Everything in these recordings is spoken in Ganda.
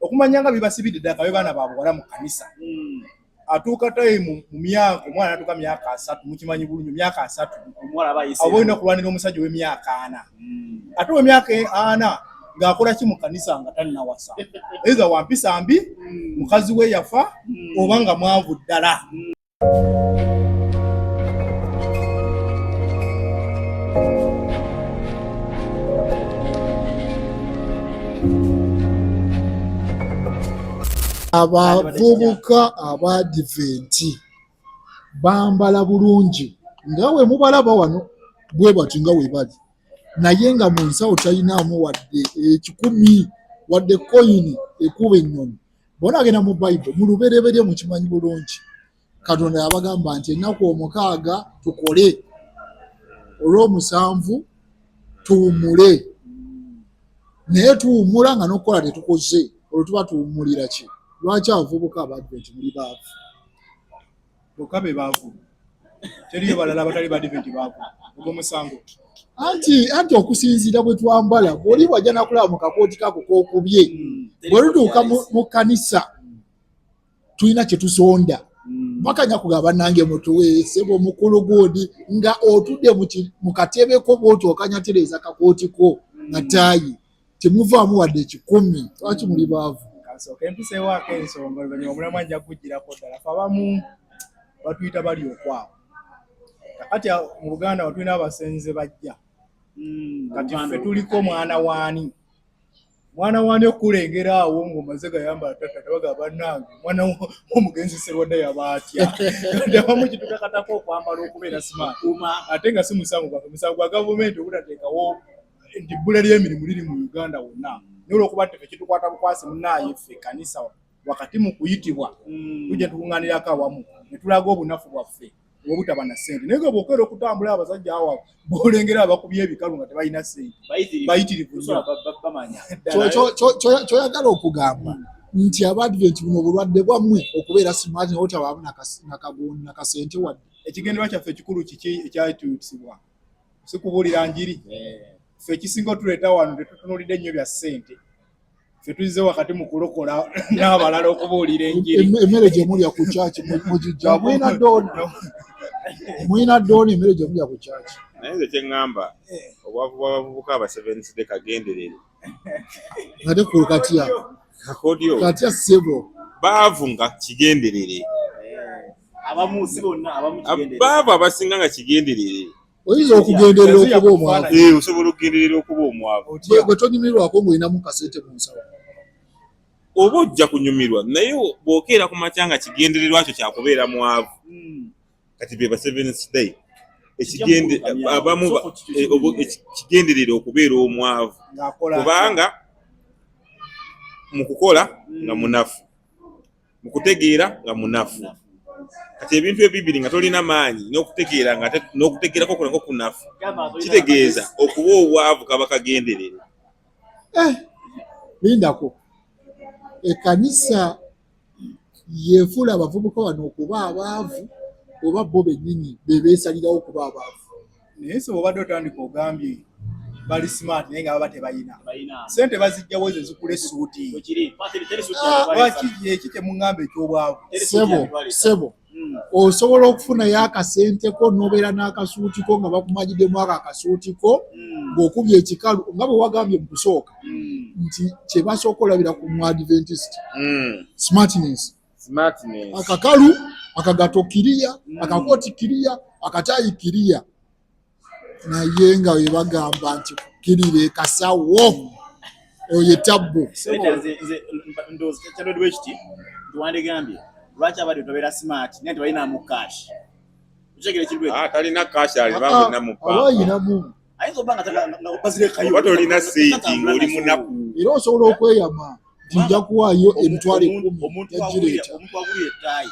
okumanya nga bibasibidde ddala kabe baana ba buwala mu kanisa hmm. atuuka tayi mu myaka omwana natuuka myaka asatu mukimanyi bulungi myaka asatu aba olina okulwanira omusajja ow'emyaka ana hmm. ate owemyaka e ana ng'akola ki mu kanisa nga tannawasa eza wampisa mbi hmm. mukazi we yafa oba nga mwavu ddala abavubuka abadiventi bambala bulungi nga we mubalaba wano bwe bati nga we bali naye nga mu nsawo talinaamu wadde ekikumi wadde koyini ekuba ennyonyi bona agenda mu bible mu lubereberye mukimanyi bulungi katonda yabagamba nti ennaku omukaaga tukole olwomusanvu tuwumule naye tuwumula nga nokukola tetukoze olwo tuba tuwumulira ki lwaki abavubuka abadventi muli baavu bokka be baavu teriyo balala abatali badiventi baavu ogwo musango anti anti okusinziira bwe twambala bwoli wajja nakulaba mu kakooti kako kokubye hmm. bwe lutuuka mu kkanisa tulina kye tusonda hmm. bakanya kuga banange mutuweese bwe mukulu gundi nga otudde mu katebeko bwoti okanyatereeza kakooti ko nga hmm. taayi temuvaamu wadde ekikumi lwaki muli baavu kansooka empisa ewaako ensonga oluvanyuma omulamu ajja kugujjirako ddala fe abamu batuyita bali okwabo kati mu buganda watulina abasenze bajja hmm, kati fe tuliko mwana waani mwana wani okulengera awo ngaomaze gayambala tata tabaga banange mwana omugenzi serwadda yaba atya abamu kitukakatako okwambala okubeera simaati ate nga si musango gwafe musango gwa gavumenti obutateekawo nti ebbula ly'emirimu liri mu Uganda wonna naye olwokuba nti fe kitukwata bukwasi munaaye ffe kanisa wakati mu kuyitibwa mm. tujja tukuŋŋanirako awamu ne tulaga obunafu bwaffe obutaba na ssente naye nga bwokeera okutambula abasajja awa bolengera abakubya ebikalu nga tebalina ssente bayitirivu kyoyagala okugamba mm. nti abadventi buno obulwadde bwammwe okubeera simaati nawotabaamu nakasente wadde ekigendererwa kyaffe ekikulu kiki ekyatuusibwa si kubuulira njiri ffe ekisinga otuleeta wano tetutunulidde nnyo bya ssente ffe tuzize wakati mu kulokola n'abalala okubuulira enjiri emmere gye mulya ku kyaki mugijja mwina doona mwina doona emmere gye mulya ku kyaki naye nze kye ŋŋamba eh. obwavu bw'abavubuka abasevensidde kagenderere ate kulu katya kakodyo katya sebo baavu nga kigenderere baavu abasinga nga kigenderere oyinza okugenderera okuba omwavu eh, osobola okugenderera okuba omwavu gwe tonyumirwako ngaolinamu kasente mu nsawo oba ojja kunyumirwa naye bwokeera ku makya nga kigendererwa kyo kyakubeera mwavu hmm. kati be ba Seventh Day ekigende abamu eh, ekigenderera okubeera omwavu kubanga mu kukola nga hmm. munafu mu kutegeera nga munafu kati ebintu ebibiri nga tolina maanyi n'okutegeera nga n'okutegeerako kulako kunafu kitegeeza okuba obwavu kaba kagenderere eh, lindako ekanisa yeefuula abavubuka bano okuba abaavu oba bo bennyini be beesalirawo okuba abaavu naye sebo obadde otandika ogambye bali smart naye nga baba tebalina sente bazijjawo ezo zikula essuuti ah, lwaki eki kye muŋŋamba eky'obwavu sebo sebo hmm. osobola okufunayo akasenteko nobeera n'akasuutiko nga bakumajidemu ako akasuutiko hmm. ng'okubya ekikalu nga bwe wagambye mu kusooka hmm. nti kye basooka olabira ku mu adventist smartness akakalu akagato kiriya akakooti kiriya akataayi kiriya naye nga webagamba nti kukirira ekasawo oyo tabbu kiti tiwandigambye lwaki abadde tobeera smart naye tebalina mu cash kitegere kintu ekyo ah, talina cash ali ba munna mu bank ah, ayina mu ayinza oba nga bazire kayo oba tolina sente ng'oli munaku era osobola okweyama nti nja kuwaayo emitwalo ekkumi omuntu agulira ettayi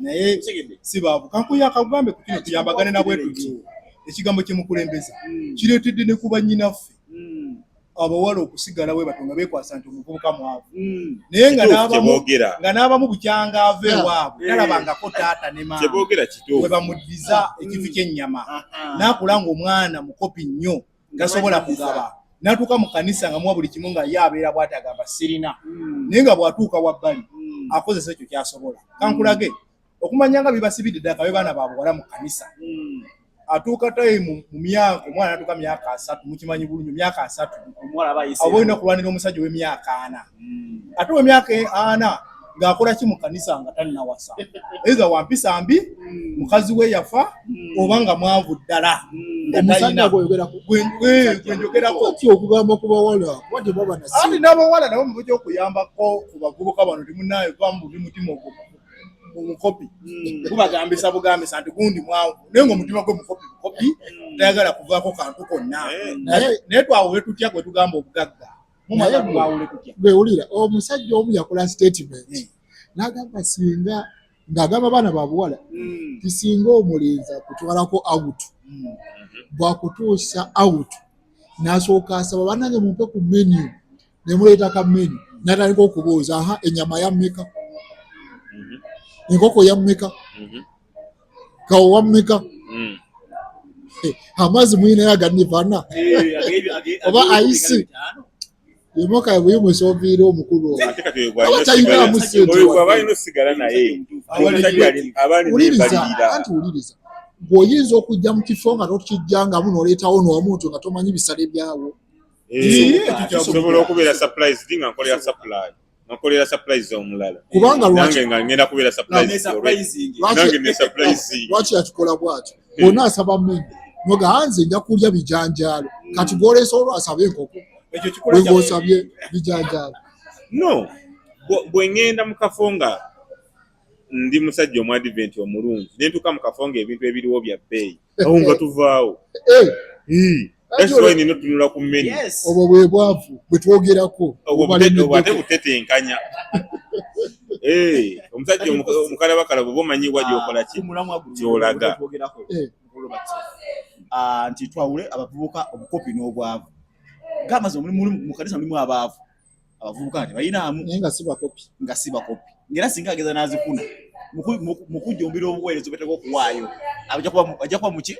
naye si baavu kankuyo akagambe kukino tuyambagane nabwe tuti ekigambo kyemukulembeza hmm. kireetedde ne kuba nyinaffe hmm. abawala okusigala we batonga bekwasa nti omuvubuka mwavu hmm. naye nga n'abamu bukyanga ava ewaabwe talabangako taata ne maama we bamuddiza ekifi ky'ennyama n'akula ng'omwana mukopi nnyo tasobola kugaba natuuka mu kanisa nga muwa buli kimu nga ye abeera bwati agamba sirina hmm. naye nga bwatuuka wabbali hmm. akozesa ekyo kyasobola hmm. kankulage okumanya nga bibasibidde ddala kabe baana babuwala mu kanisa atuuka tayimu mu myaka omwana natuuka myaka asatu mukimanyi bulungi myaka asatu aba olina okulwanira omusajja ow'emyaka ana ate ow'emyaka ana ng'akola ki mu kanisa nga tannawasa eza wampisa mbi mukazi we yafa hmm. oba nga mwanvu ddala gwenjogerako n'abawala nabo mubuja okuyambako ku bavubuka bano timunaye vamu buli mutima ogwo omukopi hmm. gubagambisa bugambisa nti gundi mwanvu naye nga omutima gwe mukopi mukopi hmm. tayagala kuvaako kantu konna naye twawo wetutya gwetugamba obugagga wewulira omusajja omu yakola statement hmm. nagamba singa ng'agamba abaana babuwala hmm. ti singa omulenzi akutwalako out hmm. bwakutuusa out nasooka asaba banange mumpe ku menu nemuleeta ka menu natandika okubuuza aha enyama yammeka mhm. enkoko yammeka mhm. kawo wammeka hmm. eh, amazzi muyinayo aganivana eh, oba ayisi yomoka bwe musoviira omukulu obatalinamu sentewuliriza anti wuliriza ng'oyinza okujja mu kifo nga tokijjangamu n'oleetawo n'omuntu nga tomanyi bisale byawo eh, kisobola okubeera surprise nga nkolera supply nakolera surprise omulala kubanga lwaki nga ngenda kubera surprise nange ne surprise lwaki yakikola bwaki eh. bona asaba mimi noga hanze nja kulya bijanjalo hmm. kati golesa olwo asabe enkoko ekyo kikola kya osabye bijanjalo no bwe ngenda mu kafo nga ndi musajja omu advent omulungi ne ntuka mu kafo nga ebintu ebiriwo bya bbeeyi awo nga tuvaawo nina otunula ku menu obwo bwe bwavu bwe twogerako ate butetenkanya omusajja omukalabakala bwoba omanyi wa gyokola ki kyolaga nti twawule abavubuka obukopi n'obwavu gamba nti mukanisa mulimu abaavu abavubuka nti bayinaamu naye nga sibakopi nga sibakopi ngera singa ageza n'azifuna mu kujjumbira obuweereza obwetaaga okuwaayo ajja kuba muki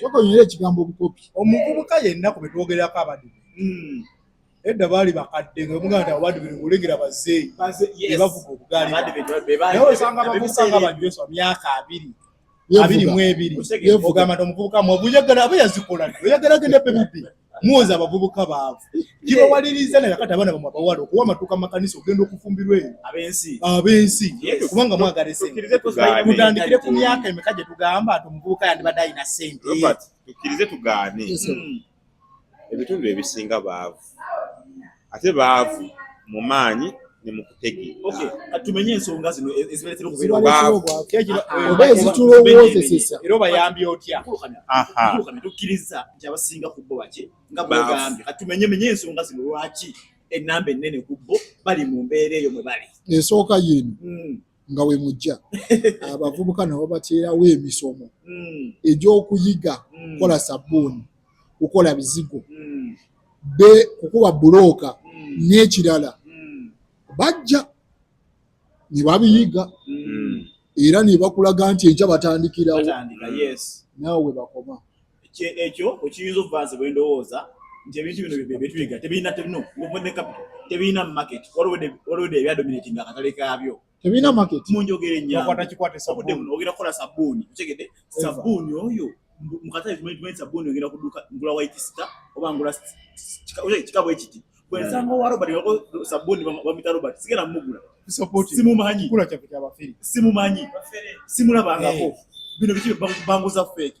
kyokonyera ekigambo obukopi omuvubuka yenna ku betwogerako abadibe hmm. edda baali bakadde nga omuganda abadibiri olengera bazeeyi bebavuga obugaali naye osanga abavubuka nga bajweswa myaka abiri abiri mu ebiri ogamba nti omuvubuka mwavu oyagala aba yazikola oyagala agenda pe bubbi muwoza abavubuka baavu kibawaliriza naye kati abaana bamwe abawala okuwa amatuuka makanisa ogenda okufumbirwa eyo abensi abensi kubanga mwagala esenmutandikire ku myaka emeka gye tugamba nti omuvubuka yandibadde alina sente tukkirize tugaane ebitundu ebisinga baavu ate baavu mu maanyi ne mu kutegeera. Tumenye ensonga zino e-, ezibaletera okubeera obwavu oba ezitulowoozesesa era obayambye otya? Tukkiriza nti abasinga ku bo baki nga bwegambye. Kati tumenye menye ensonga zino lwaki ennamba ennene ku bo bali mu mbeera eyo mwe bali. Esooka y'eno hmm. nga we mujja abavubuka nabo bateerawo emisomo hmm. egy'okuyiga hmm. kukola sabbuuni kukola bizigo hmm. be kukuba bulooka n'ekirala bajja ne babiyiga era ne bakulaga nti enkya batandikirawo naawe bakoma ekyo okiyinza okuba nze bwe ndowooza nti ebintu bino byetuyiga tebirina tebino ne capital tebirina market waliwede ebyadominating akatale kaabyo tebirina market mu njogera enyangaogera kukola sabbuuni otegede sabbuuni oyo mu katale tumanyi sabbuuni ogenda kuduka ngula white star oba ngula kika bwe kiti bwensanga owa robert sabbuuni bamita robert sigenda mugula simumanyi simumanyi simulabangako eh. bino biki banguza feeki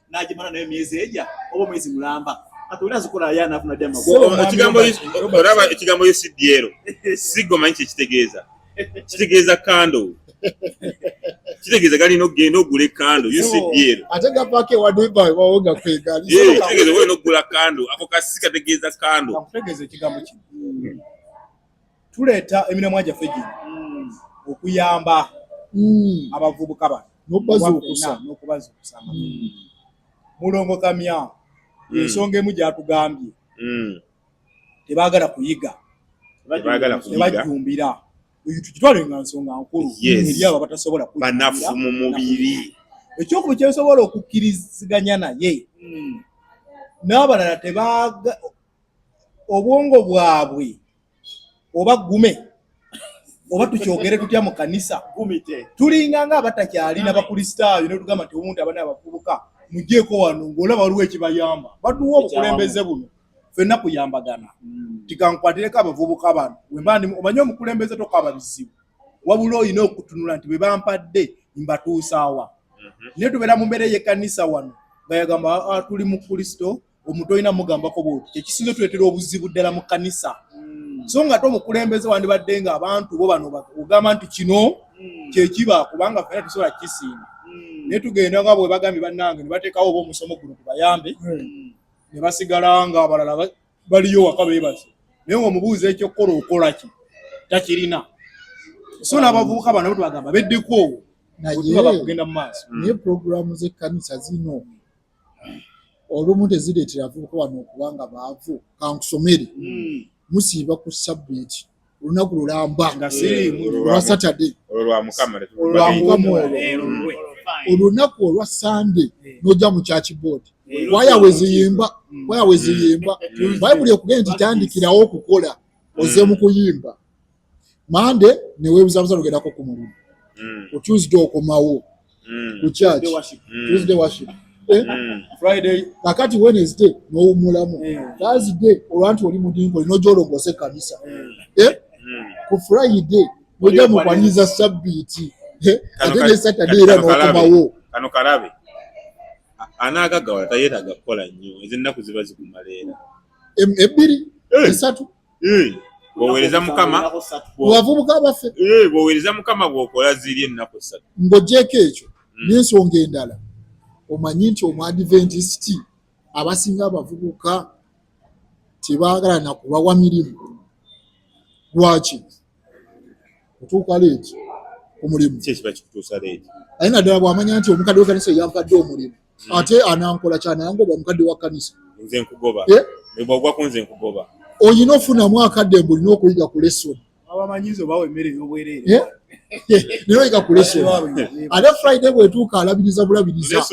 n'agimala nayo myezi egya oba omwezi mulamba kati oli azikola aya anafuna dya magolaba ekigambo yo sidyero siggo manyi kyekitegeeza kitegeeza kando kitegeeza galina okugenda ogula ekando ucdl ate gapaka ewadebawawo nga kwegalitegeeza ogenda okugula kando ako kasi kategeeza kando tuleeta emiramwa gyaffe gino mm. okuyamba mm. abavubuka bano nokubazuukusa nokubazuukusa mm. mulongo kamya ensonga emu gyatugambye tebagala kuyiga tebajjumbira oyo tukitwale nga nsonga nkulu eri abo abatasobola banafu mu mubiri ekyokuba kyensobola okukkiriziganya naye n'abalala tebaaga obwongo bwabwe oba gume oba tukyogere tutya mu kanisa tulinga nga abatakyalina bakristaayo netugamba nti omuntu abana abavubuka mujeeko wano ngaolaba waliwo ekibayamba batuwa obukulembeze buno fenna kuyambagana hmm. tikankwatireko abavubuka bano wembandi omanye omukulembeze tokaba bizibu wabula olina okutunula nti bebampadde mbatuusaawa mhm. naye tubeera mu mbeera eyekanisa wano nga yagamba ah, tuli mu kristo omuntu olina mugambako bwoti kyekisinze tuletera obuzibu ddala mu kanisa hmm. so nga te omukulembeze wandibadde nga abantu bo bano ogamba nti kino hmm. kyekiba kubanga fena tusobola kisinga hmm. naye tugenda nga bwebagambye bannange nebatekawo oba omusomo guno kubayambe nebasigala nga abalala baliyo waka bebaze naye nga omubuuza ekyokukola okolaki takirina so nabavubuka bana bwetubagamba beddeko owo otubaba kugenda mu maaso naye puroguramu zekkanisa zino olumu tezireetera avubuka wano okuba nga baavu kankusomere hmm. musiiba ku sabbiiti olunaku lulamba olwa satade olunaku olwa sande noja mu kyaki boodi waya weziyimba waya weziyimba bayibuli ekugenda nti tandikirawo okukola oze mu kuyimba mande newebuzabuza nogendako ku mulumu mm. ku tuesday okomawo mm. ku church mm. tuesday worship eh? kakati wednesday nowumulamu thursday olwanti oli mudingo olina ojolongosa ekanisa eh? ku friday oja mukwaniriza sabbiiti eh? ate ne saturday era nokomawo kano kalabe anaagagawala tayetaaga kukola nnyo ezennaku ziba zikumaleera ebbiri esatu bwowereza mukama bwavubuka baffe bwowereza mukama bwokola ziri ennaku ssatu ng'ogyeko ekyo hmm. n'ensonga endala omanyi nti omuadiventisiti abasinga abavubuka tebaagala nakubawa mirimu lwaki otuuka leeti omulimu aye naddala bw'amanya nti omukadde wekanisa eyampadde omulimu mm. ate anankola kyanangoba omukadde wa kanisa nze nkugoba eh? bwogwa ku nze nkugoba oyina ofunamu akadde mbu olina okuyiga ku lesoni abamanyizi obawa emmere eyobwerere eh? naye oyika ku lesson ate friday bwetuuka alabiriza bulabiriza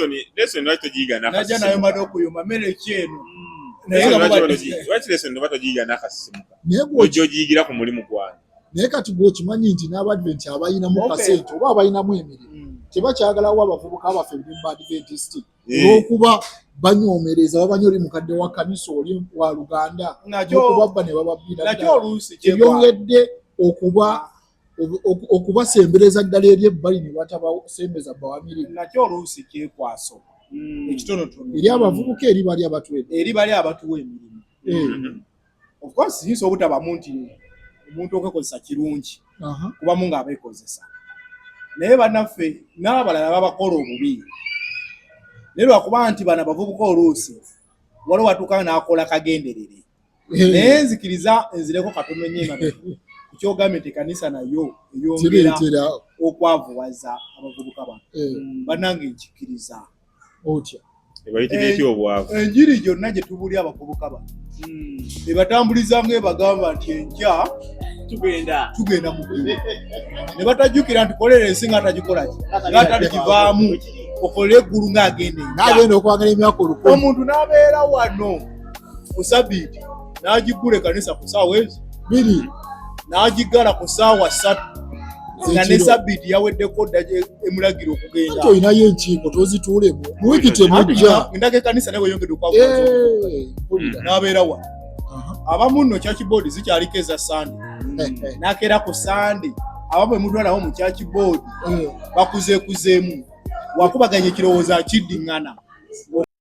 naye gwogiyigira ku mulimu gwange naye kati gwe okimanyi nti n'abadventi abalinamu kasente oba abalinamu emirimu hmm. tebakyagalawo abavubuka baffe ebimu ba adventist eh. olwokuba banyomereza babanya oli mukadde wa kanisa oli wa luganda okubabba ne bababbiraebyongedde okuba okubasembereza ddala eri ebbali ne batabasembeza bawamirimu nakyo oluusi kyekwaso hmm. ekitonotono eri abavubuka eri bali abatuwe eri bali abatuwa emirimu eh. hmm. of course yinza obutabamu nti omuntu okwekozesa kirungi kubamu nga abekozesa naye banaffe n'abalala babakola obubi naye lwakuba nti bana bavubuka oluusi waliwo watuuka n'akola kagenderere eh. naye nzikiriza nzireko katono nyema kukyogambye nti ekanisa nayo eyongera okwavuwaza abavubuka bano eh. banange nkikiriza otya ebayitira etya obwavu enjiri gyonna gye tubuli abavubuka ba hmm. ebatambuliza nga ebagamba nti enkya tugenda tugenda mu ggulu ne batajjukira nti kolera ensi nga atagikolaki nga ataligivaamu okolera eggulu ng'agenda enkya n'agenda okwagala emyaka olukumi omuntu n'abeera wano ku sabiiti n'agiggula ekanisa ku saawa ezo biri n'agiggala ku saawa ssatu nga ne sabiiti yaweddeko dda emulagira okugenda olinayo enkiiko tozituulemu muwiki temujja endaka ekanisa naye weyongedde okwakulira n'abeera wa abamu nno church board zikyaliko eza sande n'akeera ku sande abamu emutwalawo mu church board bakuzeekuzeemu wakubaganya ekirowoozo akiddiŋŋana